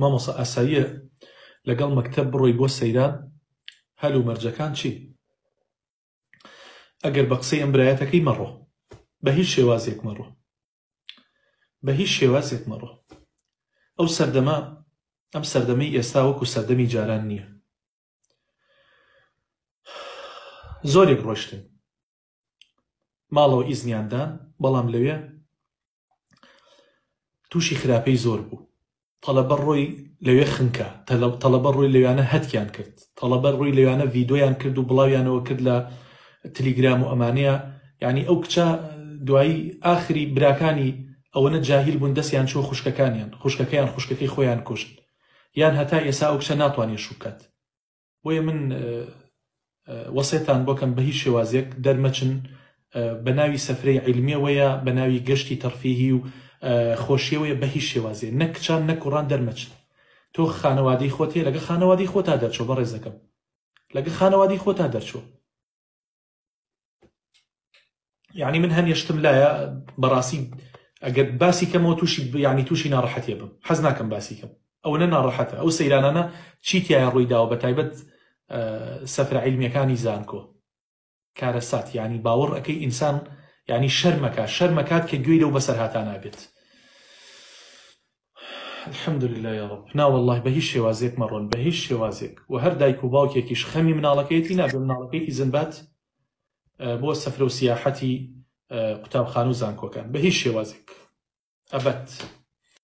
مامۆسا ئاساییە لەگەڵ مەکتەب بڕۆی بۆ سەیران؟ هەل و مەرجەکان چین؟ ئەگەر بە قسەی ئەم برایەتەکەی مەڕۆ بە هیچ شێوازێک مەڕۆ بە هیچ شێوازێک مەڕۆ ئەو سەردەمە ئەم سەردەمەی ئێستا وەکو سەردەمی جاران نییە زۆرێک ڕۆشتن ماڵەوە ئیزنیان دان بەڵام لەوێ تووشی خراپەی زۆر بوو تەلەبە ڕۆی لەوێ خنکە تەلەبە ڕۆی لەویانە هەتکیان کرد تەڵەبە ڕووی لەویانە ڤیددیویان کرد و بڵاویانەوە کرد لە تلیگرام و ئەمانەیە یعنی ئەو کچە دوایی ئاخری براکانی ئەوەنە جاهیل بوون دەستیان چۆ خوشکەکانیان خوشکەکەیان خوشکەکەی خۆیان کوشت یان هەتا ئێسا ئەو کچە ناتوانێت شوکات بۆیە من وەسێتان بۆکەم بە هیچ شێوازێک دەرمەچن بە ناوی سەفرەی عیلمیەوەیە بە ناوی گەشتی تەرفیهی و خۆشیەوەیە بە هیچ شێوازێ نەک کچان نە کوڕان دەرمەچن تۆ خانەوادەی خۆتێ لەگە خانەوادی خۆتا دەرچۆ بە ڕێزەکەم لەگە خانەوادی خۆتا دەرچۆ یعنی من هەم یشتم لایە بەڕاستی ئەگەر باسی کەمەوە تووشی بیانی تووشی ناڕەحەتێ بم حەز ناکەم باسی کەم ئەو نە ناڕەحەتە ئەو سەیرانانە چیتیایە ڕووی داوە بە تایبەت سەفرە عیلمیەکانی زانکۆ کارە سات ینی باوەڕ ئەەکەی ئینسان ینی شەرمەکە شەرمەکات کە گوێی لەو بەسەر هاتا نابێت الحمدللە یارب نا وەڵاهی بە هیچ شێوازێک مەڕۆن بە هیچ شێوازێک وە هەر دایک و باوکێکیش خەمی مناڵەکەیەتی نابێ مناڵەکەی تیزن بات بۆ سەفرە و سیاحەتی قوتابخانە و زانکۆکان بە هیچ شێوازێک ئەبەت